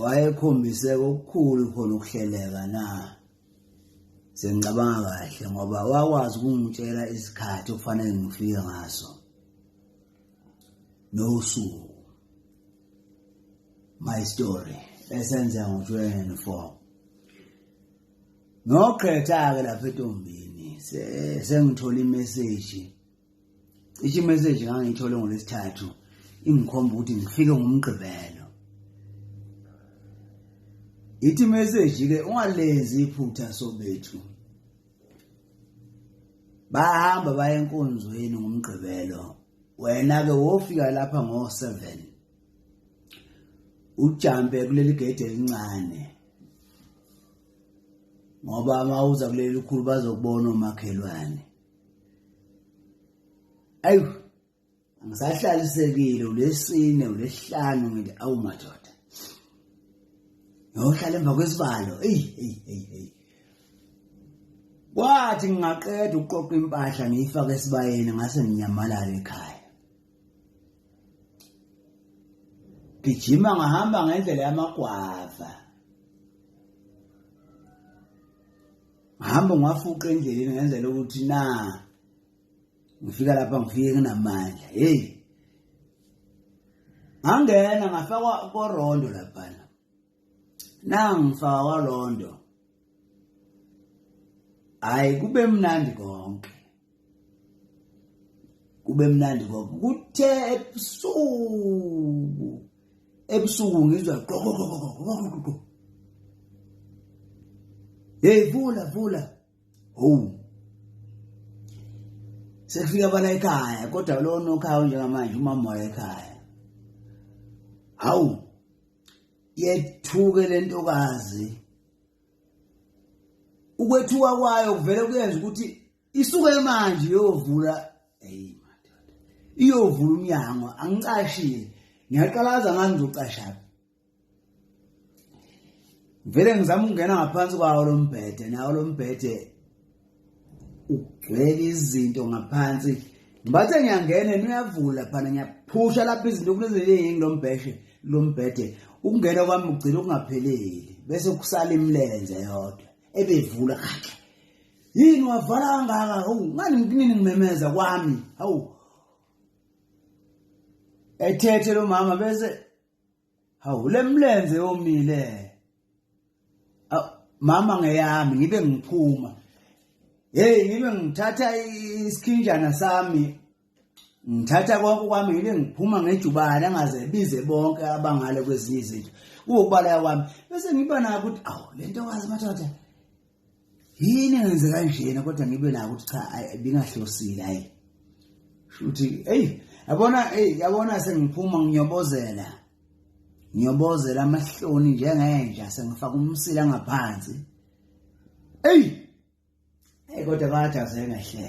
wayekhombise okukhulu khona ukuhleleka na sengicabanga kahle ngoba wakwazi ukungitshela isikhathi okufanele ngifike ngaso nosuku my story esenza ngo-24 ngiyogqetha-ke lapha etombini sengithole imeseji cishe imeseji ngangiyithole ngolwesithathu ingikhomba ukuthi ngifike ngomgqibelo ithi imeseji ke ungalenzi iphutha sobethu bahamba baye enkonzweni ngomgqibelo wena ke wofika lapha ngo 7 ujampe kuleli gate elincane ngoba mawuza kuleli likhulu bazokubona omakhelwane ayu ngisahlalisekile ulesine ulesihlanu ngithi awu madoda ngiyohlala emva kwesibalo eyi eyi eyi eyi kwathi ngingaqeda ukuqoqa impahla ngiyifake esibayeni ngase nginyamalala ekhaya gijima ngahamba ngendlela yamagwava ngahambe ngiwafuqa endleleni ngenzela ukuthi na ngifika lapha ngifike nginamandla hey ngangena ngafakwa korondo laphana nangifakwa londo hayi kube mnandi konke kube mnandi ngoba kuthe ebusuku ebusuku ngizwa qokokokokokokoko hey vula vula home sekufika abana ekhaya kodwa lo nokhaya njengamanje umamoya ekhaya hawu yethuke lentokazi ukwethuka kwayo kuvele kuyenza ukuthi isuke manje iyovula hey madoda iyovula umnyango angicashile ngiyaqalaza ngani ngizocasha vele ngizama ukungena ngaphansi kwawo lombhede nawo lombhede ugcwele izinto ngaphansi ngibathe ngiyangena niyavula phana ngiyaphusha lapha izinto kuneziningi lo mbheshe lo mbhede ukungena kwami ugcina ukungapheleli bese kusala imilenze yodwa ebevula khathi yini wavala kangaka hawu ngani nginini ngimemeza kwami hawu ethethe lo mama bese hawu le mlenze yomile mama ngeyami ngibe ngiphuma hey ngibe ngithatha isikhinjana sami ngithatha konke kwami ngibe ngiphuma ngejubane angaze bize bonke abangale kwezinye izinto kuwukubala kwami bese ngiba nayo ukuthi awu lento wazi madoda yini ngenze kanjena kodwa ngibe nako ukuthi cha bingahlosile hayi shuthi hey yabona hey yabona sengiphuma ngiyobozela ngiyobozela amahloni njengenja sengifaka umsila ngaphansi hey hey kodwa bathi azengahleka